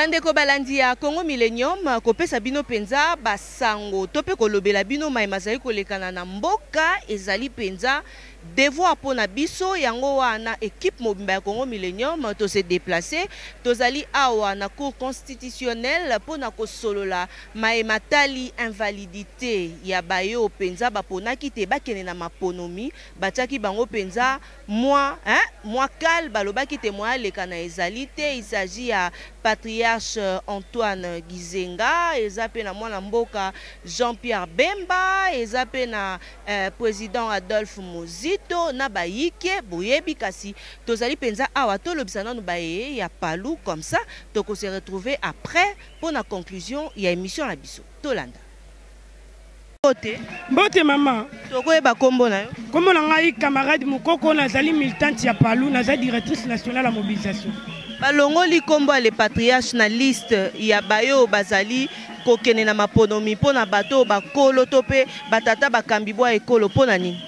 bandeko balandi ya congo millennium kopesa bino mpenza basango to mpe kolobela bino mai mazali kolekana na mboka ezali mpenza devoir mpo na biso yango wana ekipe mobimba ya congo millennium tose deplace tozali awa na cour constitutionnelle mpo na kosolola mai matali invalidité ya bayo mpenza baponaki te bakende na maponomi batiaki bango mpenza Mwa eh mwa kal balobaki te mwa aleka na ezali te il s'agit ya patriarche Antoine Gizenga eza pe na mwana mboka Jean Pierre Bemba eza pe na eh president Adolphe Muzito na bayike boyebi kasi tozali penza awa tolobisa nanu baye ya palu comme ça toko se retrouver après pona conclusion ya emission na biso tolanda. Mbote. Mbote mama. Tokoyeba kombo na yo. Kombo na ngai camarade Mukoko nazali militante ya Palu naza directrice nationale ya mobilisation. Balongoli kombo ya le patriarche na liste ya bayo bazali kokende na maponomi mpo na bato oyo bakolo to mpe batata bakambi bwa ekolo mpo na nini?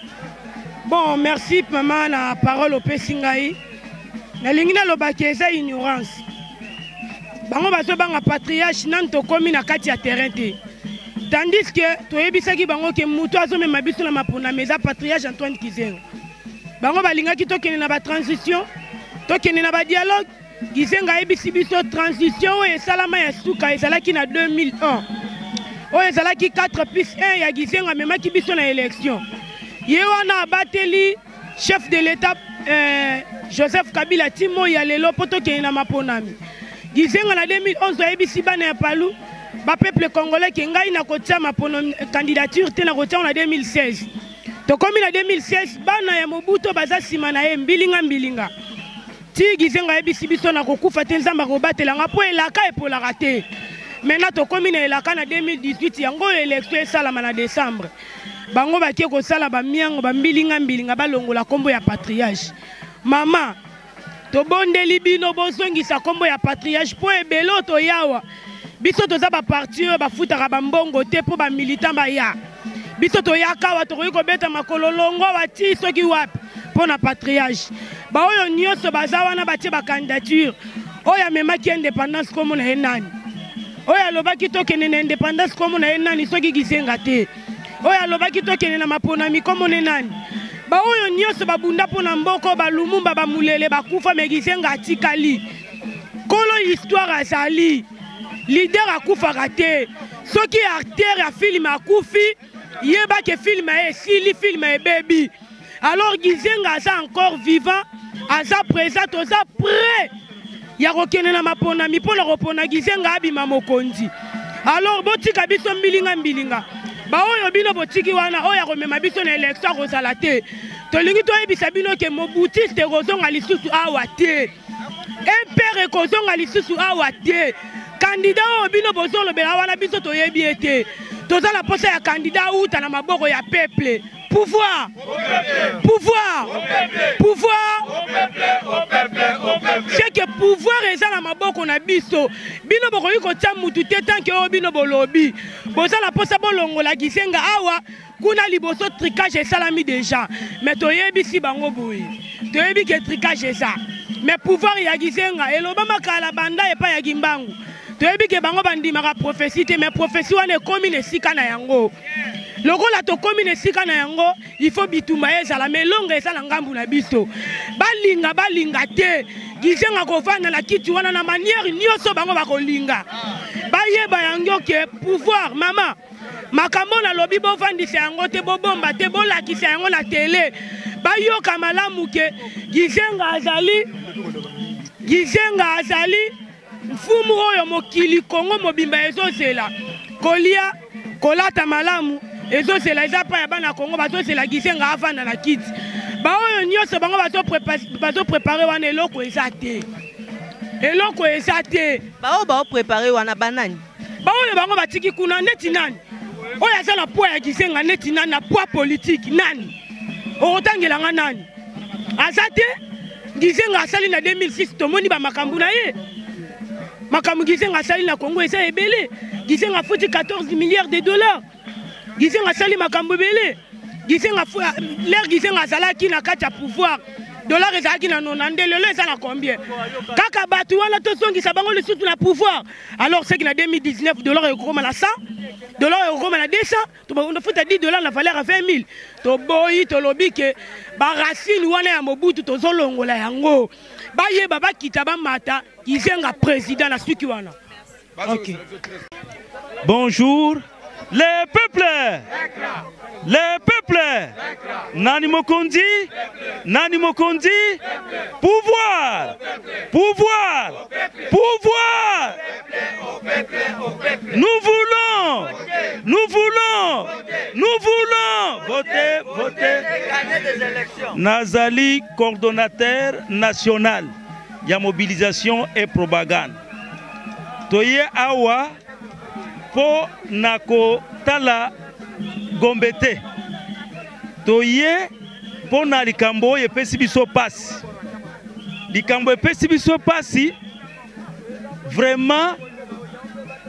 Bon, merci mama na parole opesi ngai. Nalingi naloba ke eza ignorance. bango bazobanga patriarche nanu tokomi na kati ya terrain te tandis ke toyebisaki bango ke moto azomema biso na maponami eza patriarche antoine kizengo bango balingaki tokende na batransition tokende na badialogue kizengo ayebisi biso transition oyo esalama ya suka ezalaki na 2001 oyo ezalaki 4 plus 1 ya kizengo amemaki biso na election ye wana abateli chef de l'etat eh, joseph kabila ti moi ya lelo mpo tokende na maponami gizenga na 2011 ayebisi bana ya palu bapeuple congolais ke ngai nakotia mapono candidature te nakotiango na 2016 tokomi na 2016 bana ya mobuto baza nsima na ye mbilinga mbilinga ti gizenga ayebisi biso nakokufa te nzambe akobatela nga mpo elaka epolaka te maintenant tokomi na elaka na 2018 yango oyo elektio esalama na décembre bango bake kosala bamiango bambilinga mbilinga balongola nkombo ya patriage mama tobondeli bino bozongisa nkombo ya patriage mpo ebele oyo toyawa biso toza baparti oyo bafutaka bambongo te mpo bamilitant baya biso toyaka awa tokoki kobeta makolo longo awa ti soki wapi mpo na patriage baoyo nyonso baza wana batie bacandidature oyo amemaki independance nkombo na ye nani oyo alobaki tokende na independance komona ye nani soki kizenga te oyo alobaki tokende na maponami komona ye nani baoyo nyonso babunda mpo na mboko balumumba bamulele bakufa me kizenga atikali kolo histoire azali lider akufaka te soki acteur ya filme akufi yeba ke filme ye esili filme ebebi alors gizenga aza encore vivant aza présent toza près ya kokende na maponami mpo na kopona gizenga abima mokonzi alors botika biso mbilinga mbilinga baoyo bino botiki wana oyo akomema biso na elektio akozala te tolingi toyebisa bino ke mobutiste ekozonga lisusu awa te mpere ekozonga lisusu awa te kandida oyo bino bozolobela wana biso toyebi ye te toza na mposa ya kandida awuta na maboko ya peple Pouvoir Pouvoir Pouvoir C'est que pouvoir eza na maboko na biso. Bino bokoki kotia mutu te tant que oyo bino bolobi. Boza na posa bolongola kisenga awa kuna liboso tricage esalami déjà. Mais toyebisi bango boye. Toyebi que tricage eza. Mais pouvoir ya kisenga elobama kala banda epa ya kimbangu. toyebi ke bango bandimaka profesi te mais profesi wana ekomi na esika na yango lokola tokomi na esika na yango ifo bitumba ye ezala ma elonga eza na ngambu na biso balinga balinga te gizenga kovanda na kiti wana na maniere nyonso bango bakolinga bayeba yango ke pouvoir mama makambo oyo nalobi bovandisa yango te bobomba te bolakisa yango na tele bayoka malamu ke gizenga azali gizenga azali Mfumu oyo mokili Congo mobimba ezozela kolia kolata malamu ezozela eza pa ya bana Congo bazozela gisenga avanda na kiti baoyo nyonso bango bazoprepare wana eloko eza te eloko eza te baoyo baoprepare wana banani baoyo bango batiki kuna neti nani oyo aza na poi ya kizenga neti nani na poi politike nani okotangela nga nani aza te gizenga asali na 2006 tomoni bamakambo na ye makambo gizenga asali na congo eza ebele gizenga afuti 14 milliards de dollars gizenga asali makambo ebele gizenga lere gizenga azalaki na kati ya pouvoir dollar ezalaki na nona nde lelo eza na combien kaka bato wana tozongisa bango lisusu na pouvoir alors seki na 2019 dollar ekokoma na 100 dollar ekokoma na 200 tofuta 10 dollar na valeur ya 20 000 toboyi tolobi ke baracine wana ya mobutu tozolongola yango bayeba bakita bamata kizenga président na suki wana Ok. Bonjour les peuples les peuples nani mokonzi nani mokonzi pouvoir pouvoir pouvoir nous voulons nous voulons nous voulons voter voter nazali coordonnateur national ya mobilisation et propagande toye awa mpo na kotala gombe te toye mpo na likambo oyo epesi biso mpasi likambo epesi biso mpasi vraiment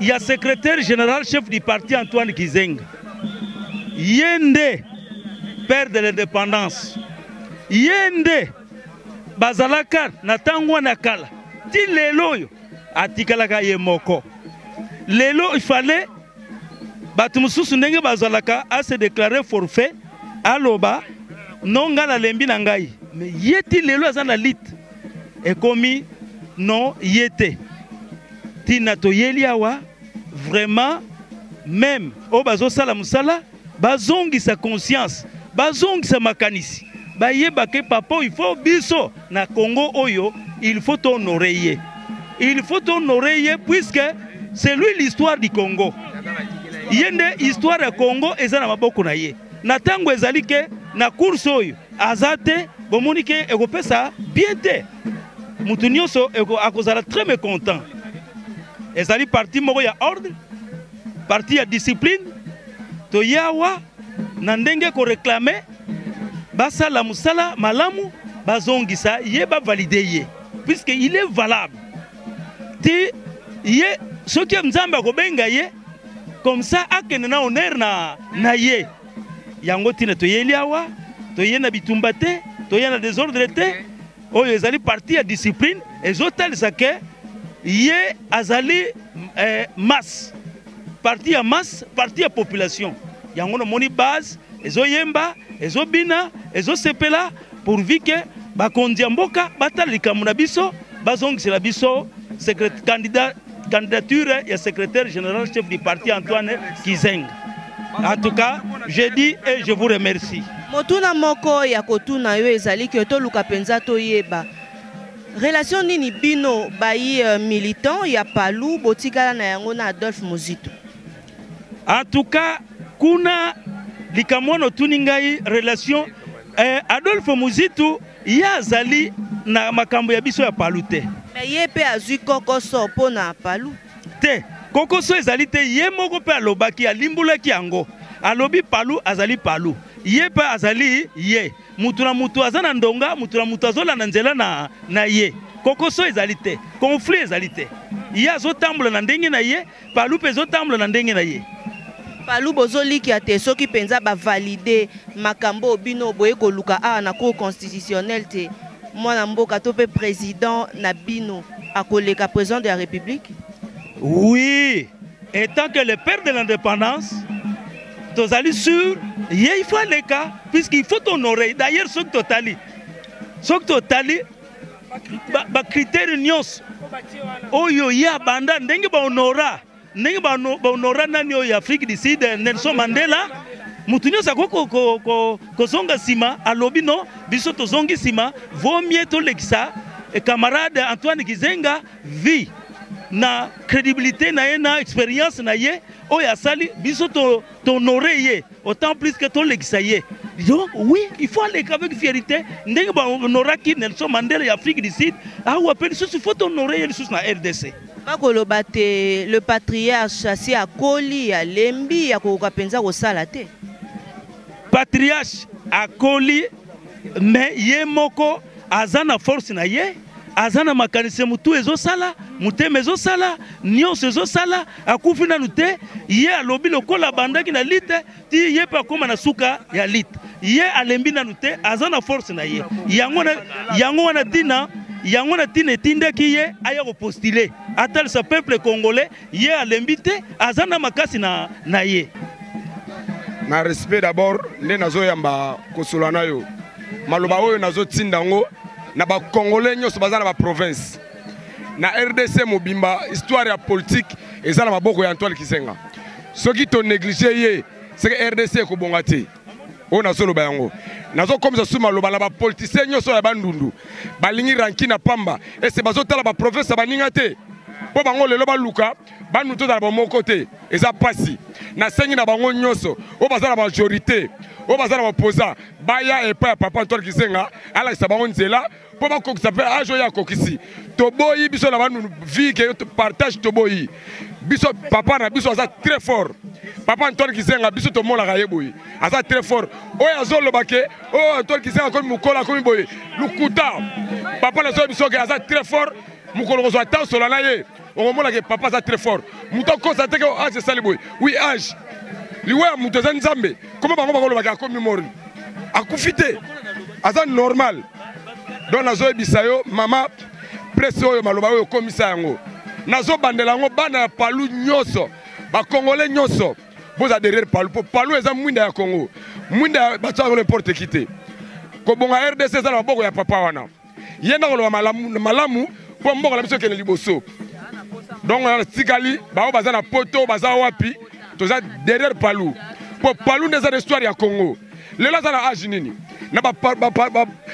ya secrétaire général chef du parti antoine kizenga ye nde père de l'indépendance ye nde bazalaka na ntango wana kala ti lelo oyo atikalaka ye moko lelo ifale bato mosusu ndenge bazalaka ase deklare forfait aloba no ngai nalembi na ngai me ye ti lelo aza na lite ekomi no ye te ntina toyeli awa vraiment meme oyo bazosala mosala Bazongisa conscience, bazongisa makanisi, bayeba que papa oyo il faut biso na Congo oyo il faut to honorer ye, il faut to honorer ye puisque c'est lui l'histoire du Congo. Ye nde histoire ya Congo eza na maboko na ye. Na tango ezali que na course oyo aza te, bomoni que ekopesa bien te, mutu nionso akozala très mecontent. Ezali parti moko ya ordre. Parti ya discipline toyawa na ndenge ko reclamer basala musala malamu bazongisa ye ba valider ye puisque il est valable ti ye soki nzambe akobenga ye comme ça akende na honneur na, na ye yango ntina toyeli awa toye na bitumba te toye na desordre te Oyo ezali partie ya discipline ezotalisa ke ye azali eh, masse partie ya masse partie ya population yango namoni base ezoyemba ezobina ezosepela pourvu ke bakonzi ya mboka batala likambo na biso bazongisela biso secret candidat candidature ya secrétaire général chef du parti Antoine Kizeng. En tout cas, je dis et je vous remercie. Motuna moko ya kotuna yo ezali que toluka penza toyeba relation nini bino bayi euh, militant ya Palu botikala na yango na Adolphe Muzito. En tout cas, kuna likambo wana otuni ngai relation eh, Adolphe Muzito Ye azali na makambo ya biso ya Palu te. Mais ye pe azui kokoso po na Palu. Te, kokoso ezali te, ye moko pe alobaki, alimbolaki yango. Alobi Palu azali Palu. Ye pe azali ye. Mutu na mutu aza na ndonga, mutu na mutu azo landa nzela na, na ye. Kokoso ezali te. Conflit ezali te. Ye azo tambola na ndenge na ye. Palu mpe ezotambola na ndenge na ye. Palu bozolikia te soki penza ba valide makambo oyo bino boye koluka awa na cour constitutionnelle te mwana mboka to pe president na bino akoleka president de la republique? Oui, etant que le père de l'indépendance, tozali sur ye il faut aleka puisqu'il faut honorer. D'ailleurs soki totali soki totali bakritere nyonso oyo ye abanda ndenge bahonora ndenge bahonora nani oyo ya afrique du sud nelson mandela moto nyonso akoki kozonga nsima alobi no biso tozongi nsima vomie tolekisa eh, camarade antoine kizenga vie na crédibilité na ye na expérience na ye oyo asali biso tohonore ye autant plus que tolekisa ye donc oui il faut aleka avec fierité ndenge bahonoraki nelson mandela ya afrique du sud awa mpe lisusu faut tohonore ye lisusu na rdc bakoloba te le patriarche asi akoli alembi akokoka mpenza kosala te patriarche akoli mais ye moko aza na force na ye aza na makanisi ya motu ezosala motema ezosala nyonso ezosala akufi nanu te ye alobi lokola abandaki na lite ti ye mpe akóma na suka ya lite ye alembi nanu te aza na force na ye yango, na, yango wana ntina yango na ntina etindaki ye aya kopostile atalisa peuple congolais Ye alembi te, aza na makasi na, na ye. Na respect d'abord nde nazoyamba kosola na yo maloba oyo nazotinda yango na bakongole nyonso baza na baprovince na rdc mobimba histoire ya politike eza na maboko ya antoine kizenga soki tonéglige ye seke rdc ekobonga te oyo nazoloba yango nazokomisa su maloba na bapolitisien nyonso ya bandundu balingi ranki na pamba ese bazotala baprofesa baninga te mpo bango lelo baluka bandundu tozala bamoko te eza mpasi nasengi na bango nyonso oyo baza na majorité oyo baza na bapoza baya epai ya papa antoine kizenga alakisa bango nzela mpo bakokisa mpe age oyo akokisi toboyi biso na banu vie ke partage toboyi biso papa na biso aza très fort papa antoine kizenga biso tomonaka ye boye aza très fort oyo azoloba ke oyo oh, antoine kizenga akomi mokolo akomi boye lokuta papa nazoyebi biso ke aza très fort mokolo kozwa ta osola na ye okomona ke papa aza très fort moto akosa te ke age esali boye wi age liwa ya moto eza nzambe koma bango bakolobaka akomi mori akufi te aza normal donc nazoyebisa yo mama presse oyo maloba oyo okomisa yango nazobandela yango bana ya palu nyonso bakongole nyonso boza derrière palu mpo palu eza mwinda ya congo mwinda batyaka n'importe ki te kobonga rdc eza na maboko ya papa wana ye nde akoloba malamu malamu mpo mboka na biso ekende liboso donc wana tikali baoyo baza na poto baza wapi toza derrière palu mpo palu nde eza na histoire ya congo lelo aza na age nini na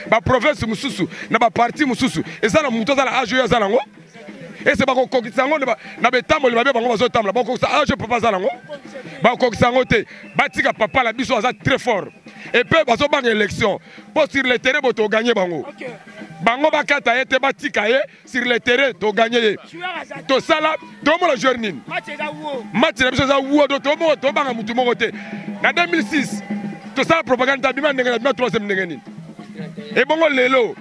baprovince mosusu na baparti mosusu eza na moto aza na age oyo aza nango ese bakokokisa yango na betamboli mabe bango bazotambola bakokokisa age oyo papa aza nango bakokokisa yango te batika papa na biso aza très fort epe bazobanga élection mpo sur le terrain bo toganye bango bango bakata ye te batika ye sur le terrain toganye ye tosala tomona joueur nini match na biso eza wuo do tomoko tobanga motu moko te na 2006 tosala propagande tabima ndenge na bima troisième ndenge nini ebongo lelo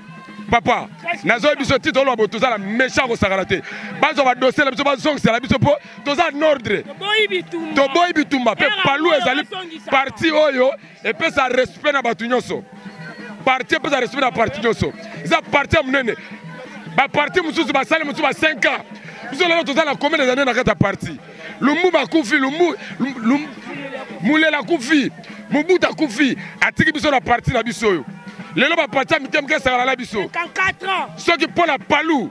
papa nazoyi biso ti toloba boye toza na méchant kosakana te bazwa badosie na biso bazongisela biso mpo toza nordre toboyi bitumba mpe palu ezali parti oyo epesa respect na bato nyonso parti epesa respect na parti nyonso eza parti ya monene baparti mosusu basali mosusu ba 5 ans biso lelo toza na combien des années na kati ya parti lumbu bakufi lumbu mulela akufi mobuta akufi atiki biso na parti na biso oyo lelo baparti ya mike mike esanganala biso soki mpo na palu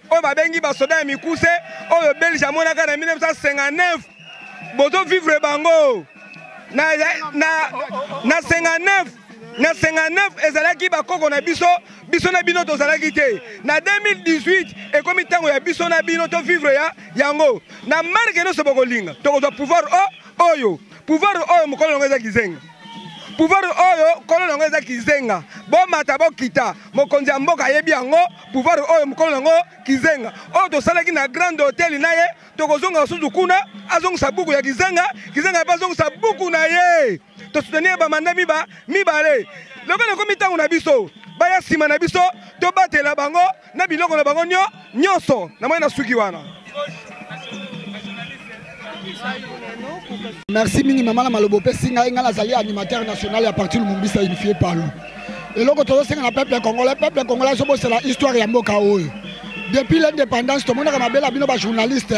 oyo babengi basoda ya mikuse oyo belge amonaka na 1959 bozo vivre bango na, na, na 59 na 59 ezalaki bakoko na biso biso na bino tozalaki te na 2018 ekomi ntango ya biso na bino to vivre ya yango na marke nyonso bokolinga tokozwa pouvoir o oyo pouvoir oyo mokolo yango eza kizenga pouvoir oyo kolo yango eza kizenga bomata bokita mokonzi ya mboka ayebi yango Pouvoir oyo mukolo nango kizenga oyo tosalaki na grande hotel na ye tokozonga susu kuna azongisa buku ya kizenga kizenga pe azongisa buku na ye tosoutenir ba manda miba mibale lokola ekomi ntango na biso baya nsima na biso tobatela bango na biloko na bango nyo nyonso namoni nasuki wana merci mingi mama na maloba opesi ngai ngai nazali animateur national ya parti lumumbisa unifie palu eloko tozosenga na peuple congolais peuple congolais azobosela histoire ya mboka oyo depuis l'indépendance tomonaka mabele ya bino bajournaliste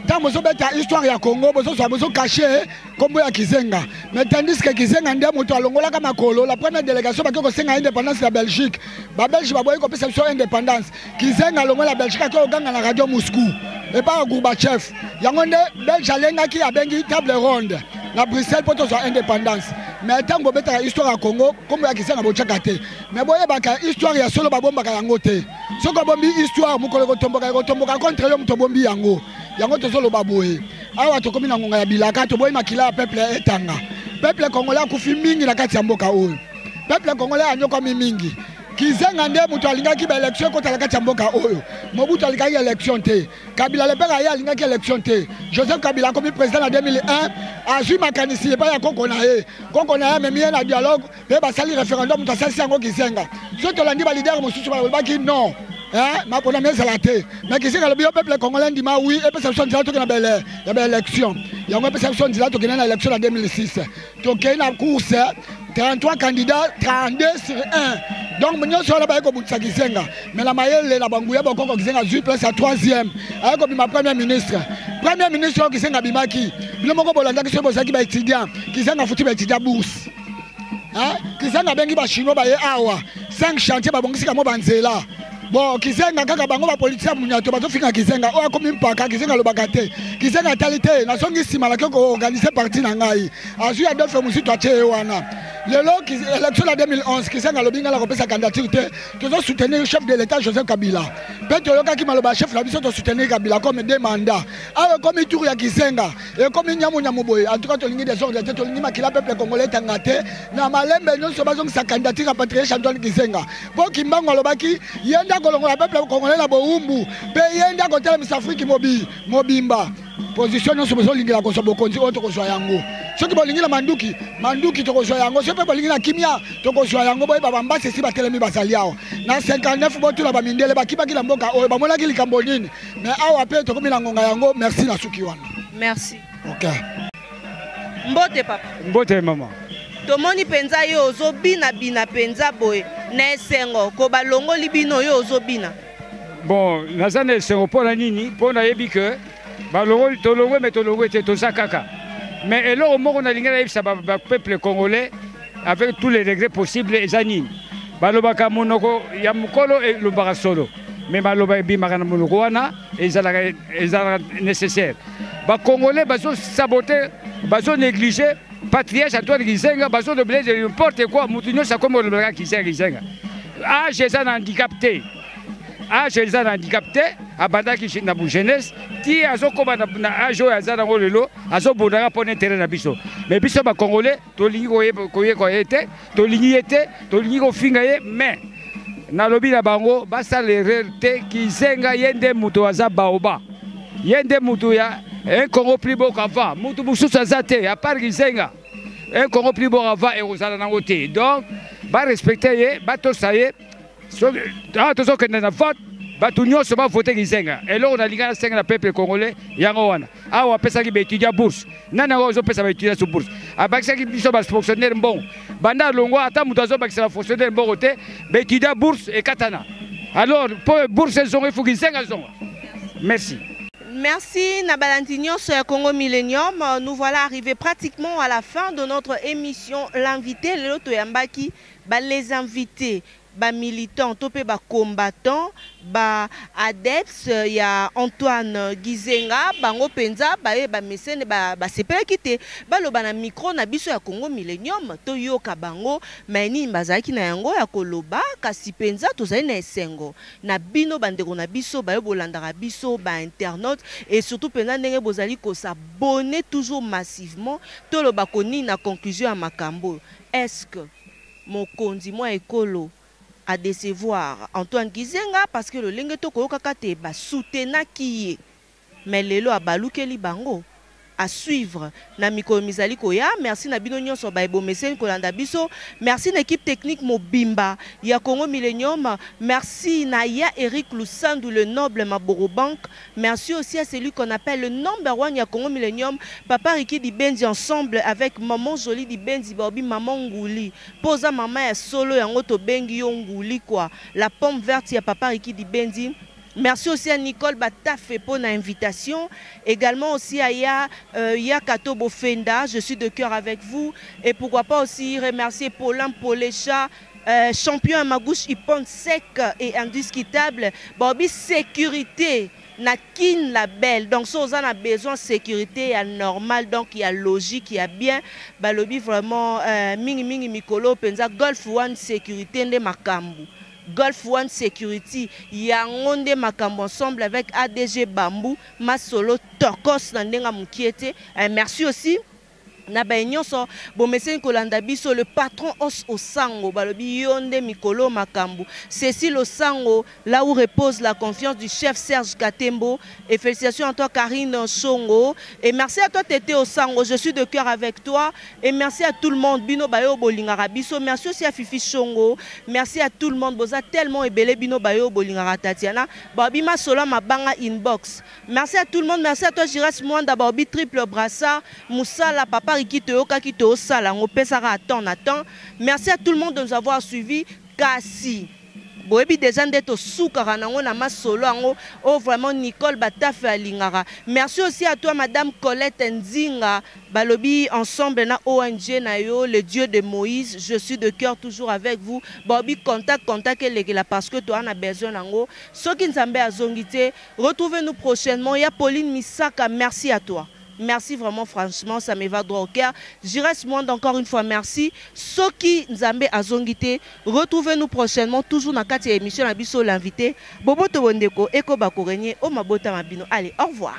ntango bozobeta histoire ya congo bozozwa bozokashe nkombo ya kizenga mais tandis ke kizenga nde moto alongolaka makolo la première délégation bake kosenga indépendance ya belgique babelge baboyi kopesa biso indépendance Kizenga longola Belgique ake oganga na radio Moscou epa ya Gorbachev yango nde Belge alengaki abengi table ronde na Bruxelles mpo tozwa indépendance mais ntango bobetaka histoire ya Congo nkombo ya Kizenga botyaka te mais boyebaka histoire ya solo babombaka yango te soki obombi histoire mokolo ekotomboka ekotomboka contre yo moto obombi yango yango tozoloba boye awa tokomi na ngonga ya bilaka toboyi makila ya peuple etanga peuple congolais akufi mingi na kati ya mboka oyo peuple congolais anyokwami mingi Kizenga nde moto alingaki ba election ekota na kati ya mboka oyo. Mobutu alingaki election te. Kabila le père aye alingaki election te. Joseph Kabila akomi président na 2001, azwi makanisi epai ya koko na ye. Koko na ye amemi ye na dialogue mpe basali referendum moto asalisi yango Kizenga. Soki tolandi ba leader mosusu balobaki non. Eh, maponami ezala te mais kizenga alobi yo peuple congolais ndima oui epesa biso nzela tokende na ba election yango epesa biso nzela tokende na election na 2006 tokei na course 33 candidat 32 sur 1 donc nyonso wana baye kobundisa kizenga me na mayele na banguya bokoko kizenga azwi place ya 3ième aye kobima premier ministre premier ministre oyo kizenga abimaki bino moko bolandaki soki bozalaki baétudiant kizenga afuti baétudiant bourse kizenga abengi bachinois baye awa 5 chantier babongisi kango banzela bon kizenga kaka bango bapolitisi ya munyato bazofinga kizenga oyo akomi mpaka kizenga alobaka te kizenga atali te nazongi nsima nake koorganize parti na ngai azwi ya dofe mosutu atye ye wana lelo élection ya 2011 kizenga alobi ngai nakopesa candidature te tozosoutenir chef de l'état joseph kabila mpe toyokaki maloba ya chef na biso tosoutenir kabila comme de mandat awa ekomi tour ya kizenga ekomi nyamunyamu boye antuka tolingi desordre te tolingi makila peuple congolais etanga te na malembe nyonso bazongisa candidature ya patriarche antoine kizenga mpo Kimbangu alobaki ye nde akolongola peuple congolais na bowumbu mpe ye nde akotelemisa Afrique mobi mobimba position nyonso bozolingela kozwa bokonzi oyo tokozwa yango soki bolingi na manduki manduki tokozwa yango soki mpe bolingi na kimia tokozwa yango boyeba bambasi esi batelemi bazali awa na 59 botuna bamindele bakibaki na mboka oyo bamonaki likambo nini me awa mpe tokomi na ngonga yango merci na suki wana merci okay. Mbote papa. Mbote mama. Tomoni penza yo ozo bina bina penza boye na esengo ko balongoli bino yo ozo bina. Bon, naza na esengo mpo na nini? Mpo nayebi que balongoli tolongwe me tolongwe te toza kaka. Mais eloko moko nalingi nayebisa ba, ba peuple congolais avec tous les regrets possibles eza nini? Balobaka monoko ya mokolo elobaka solo. Mais maloba ebimaka na monoko wana ezalaka ezalaka nécessaire bacongolais bazosabote bazonéglige patriarche antoine kizenga bazolobela ete n'importe quoi moto nyonso akomi kolobelaka kizenga kizenga age eza na handicap te age eza na handicap te abandaki na jeunesse ti azokoma na age oyo aza nango lelo azobundaka mpo na intere na biso mais biso bacongolais tolingi koyekwa ye te tolingi ye te tolingi kofinga ye mais nalobi na bango basala erreur te kizenga ye nde moto aza baoba ye nde moto ya un congo plus beau qu'avant moto mosusu aza te à part kizenga un congo plus beau qu'avant ekozala nango te donc barespecte ye batosa ye awa tozokende na vote bato nyonso bavote kizenga eloko nalinga nasenga na peuple congolais yango wana awa apesaki baetudia bourse nani yango ozopesa baetudia so bourse abakisaki biso bafonctionnaire mbongo banda alongwa ata moto azobakisa bafonctionnaire mbongo te baetudia bourse ekatana alors mpo bourse ezonga ifuki nsenga ezonga merci Merci Nabalandi Nyonso ya Congo Millennium. Nous voilà arrivés pratiquement à la fin de notre émission L'invité Lelo Toyambaki. Ba les invites ba militants to pe ba combattants ba adeptes ya Antoine Gizenga bango penza baye ba mesene ba sepelaki te baloba na micro na biso ya Congo Millenium to yoka bango maye nini bazalaki na yango ya koloba kasi penza tozali na esengo na bino ba ndeko na biso baye bolandaka biso ba internautes et surtout penza ndenge bozali ko s'abonner toujours massivement toloba ko nini na conclusion ya makambo oyo. Est-ce que mokonzi mwa ekolo a decevoir Antoine Gizenga parce que lolenge to koyokaka te ba soutenaki ye mais lelo abalukeli bango? A suivre na mikolo mizali koya. Merci na bino nionso baye bomeseni kolanda biso. Merci na equipe technique mobimba ya Congo Millenium. Merci na ya Eric Lusandu le noble Maborobank. Merci aussi à celui qu'on appelle le number one ya Congo Millennium, Papa Ricky Dibenzi ensemble avec Maman Jolie Dibenzi baobi Maman Nguli. Po oza Maman ya solo yango tobengi yo Nguli quoi. La pomme verte ya Papa Ricky Dibenzi. Merci aussi à Nicole Batafe po na invitation. Egalement aussi à Ya, euh, Ya Kato Bofenda, je suis de cœur avec vous. Et pourquoi pas aussi remercier Paulin Polecha, Euh, champion ya magouche ipon sec et indiscutable baobi sécurité na kin label donc so oza na besoin sécurité ya normal donc ya logique ya bien balobi vraiment euh, mingi mingi mikolo mpenza golf one sécurité nde makambo golf one security yango nde makambo ensemble avec adg bambou masolo tokos na ndenge ya mokie te euh, merci aussi Na baye nionso bomeseni kolanda biso le patron os osango balobi yo nde mikol'oyo makambu ceci losango là où repose la confiance du chef Serge katembo et felicitations à toi Carine nshongo et merci à toi Thethe osango je suis de cœur avec toi et merci à tout le monde bino baye oyo bolingaka biso merci aussi à Fifi shongo merci à tout le monde boza tellement ebele bino baye oyo bolingaka Tatiana balobi masolo ya mabanga inbox Merci à tout le monde, merci à toi Giras Mwanda Baobi triple brassard Musala papa Riki toyokaki tosala ngo pesaka à temps na temps. Merci à tout le monde de nous avoir suivi kasi boyebi deja nde tosukaka nango na masolo yango oyo oh, vraiment nicole batafe alingaka merci aussi à toi madame colette nzinga balobi ensemble na ong na yo le dieu de moïse je suis de cœur toujours avec vous balobi contact contact elekela parce que toa na besoin nango soki nzambe azongi te Retrouve nous prochainement ya Pauline Misaka merci à toi merci vraiment franchement ça me va droit au cœur Giresse Muanda encore une fois merci soki Nzambe azongi te retrouve nous prochainement toujours na kati ya emission na biso l'invite boboto bondeko ekoba ko regner o mabota ma bino allez au revoir.